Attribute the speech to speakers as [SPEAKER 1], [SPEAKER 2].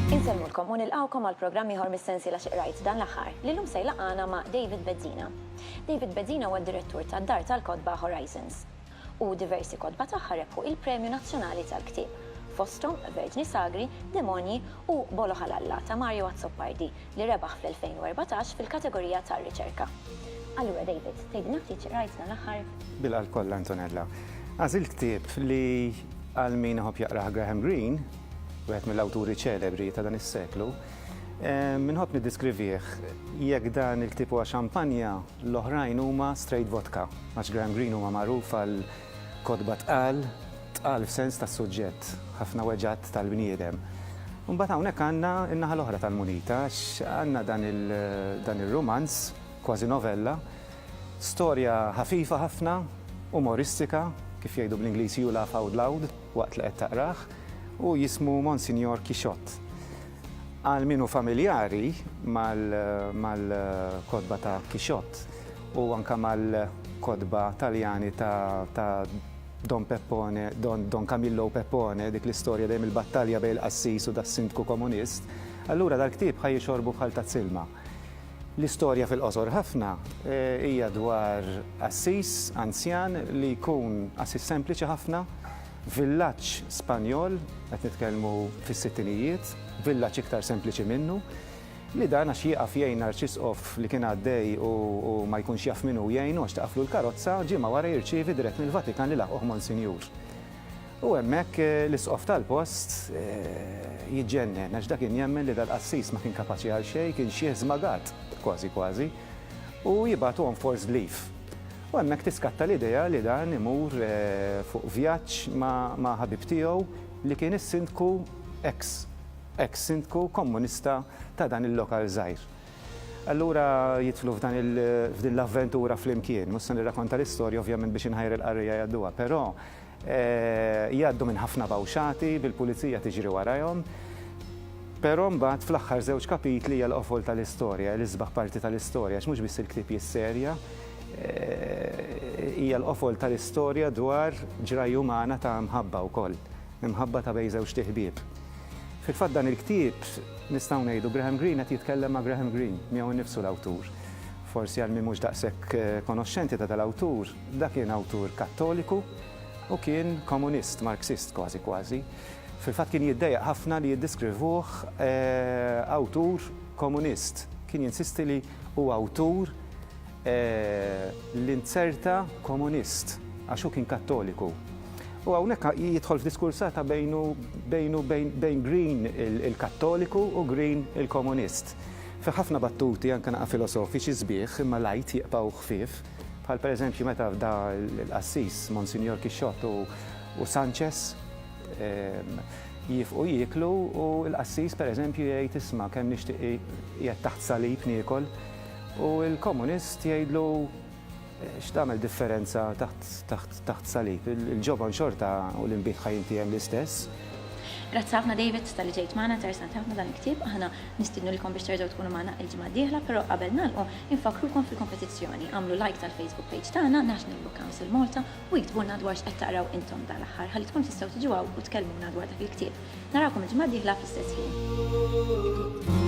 [SPEAKER 1] Insellmulkom u nilqgħukom għal programm ieħor mis-sensiela Xi Qrajt Dan l-Aħħar, li llum se jlaqqagħna ma' David Bezzina. David Bezzina huwa d-Direttur tad-dar tal-kotba Horizons. u diversi kotba tagħha rebħu il-Premju Nazzjonali tal-Ktieb, fosthom Verġni Sagri, Demonji u Bolo Halalla ta' Mario Azzopardi li rebaħ fl-2014 fil-kategorija tar-Riċerka. Allura David, tgħidilna ftit x'qrajt dan l-aħħar? Bil-qalb kollha Antonella.
[SPEAKER 2] Għażilt ktieb li għal min iħobb jaqrah Graham Greene, wieħed mill-awturi ċelebri ta' dan is-seklu. Inħobb niddiskrivih, jekk dan il-ktieb huwa xampanja, L-oħrajn huma straight vodka, għax Graham Greene huwa magħruf għal kotba tqal, tqal f'sens tas-suġġett, ħafna weġgħat tal-bniedem. Imbagħad hawnhekk għandna n-naħa l-oħra tal-munita għax għandna dan ir-rumanz, kważi novella, storja ħafifa ħafna, umoristika, kif jgħidu bl-Ingliż you laugh out loud waqt li qed taqrah, u jismu Monsinjor Kixott. Għal min hu familjari mal-kotba ta' Quixote u anke mal-kotba Taljani ta' Don Peppone, Don Camillo u Peppone, dik l-istorja dejjem il-battalja bejn il-qassis u das-sindku komunist, allura dal-ktieb ħa jixorbu bħal tazz ilma. L-istorja fil-qosor ħafna hija dwar qassis anzjan li jkun qassis sempliċi ħafna, Villaġġ Spanjol, qed nitkellmu fis-sittinijiet, villaġġ iktar sempliċi minnu, li dan għax jieqaf jgħin arċisqof li kien għaddej u ma jkunx jaf min hu jgħinu għax tqafflu l-karozza, ġimgħa wara jirċievi dirett mill-Vatikan li laħquh Monsinjur. U hemmhekk l-isqof tal-post jiġġennen għax dak kien jemmen li dal-qassis ma kien kapaċi għal xejn, kien xiħ żmagat, kważi kważi, u jibgħatu on forced leave. U hemmhekk tiskatta l-idea li dan imur fuq vjaġġ ma' ħabib tiegħu li kien is-sindku eks eks sindku Kommunista ta' dan il-lokal żgħir. Allura jidħlu f'dan il f'din l-avventura flimkien. Mhux se nirrakonta l-istorja ovvjament biex inħajjar il-qarrejja jgħadduha, però Jgħaddu minn ħafna bawxati bil-pulizija tiġri warajhom, però mbagħad fl-aħħar żewġ kapitli hija l-qofol tal-istorja, l-isbaħ parti tal-istorja għax mhux biss il-ktieb jisserja, hija l-qofol tal-istorja dwar ġrajja umana ta' mħabba wkoll, imħabba ta' bejn żewġt iħbieb. Fil-fatt dan il-ktieb nistgħu ngħidu Graham Greene qed jitkellem ma' Graham Greene, miegħu nnifsu l-awtur. Forsi għal min mhux daqshekk konoxxenti ta' dal-awtur, Dak kien awtur Kattoliku u kien komunist, Marxist kważi kważi. Fil-fatt kien jiddejjaq ħafna li jiddiskrivuh awtur komunist. Kien jinsisti li hu awtur l-inzerta komunist għax hu kien Kattoliku. U hawnhekk jidħol f'diskursata bejnu bejnu bejn Green il-Kattoliku u Green il-komunist. Fih ħafna battuti anke naqra filosofiċi sbieħ imma light jibqgħu ħfief. bħal pereżempju meta fda l-qassis Monsinjor Kixxott u Sanchez ehm, jifqu jieklu u l-qassis pereżempju jgħid isma' kemm nixtieq jgħid taħt salib niekol u l-komunist jgħidlu eh, x'tagħmel differenza taħt salib. Il-ġoban xorta u l-inbid ħajinti hemm l-istess. Grazzi ħafna
[SPEAKER 1] David talli ġejt magħna, interessanti ħafna dan il-ktieb, aħna nistiednulkom biex terġgħu tkunu magħna il-ġimgħa d-dieħla, però qabel nagħlqu infakkrukom fil-kompetizzjoni, agħmlu like tal-Facebook page tagħna, National Book Council Malta, u iktbulna dwar x'qed taqraw intom dal-aħħar ħalli tkunu tistgħu tiġu hawn u tkellmuna dwar dak il-ktieb. Narawkom il-ġimgħa d-dieħla fl-istess ħin.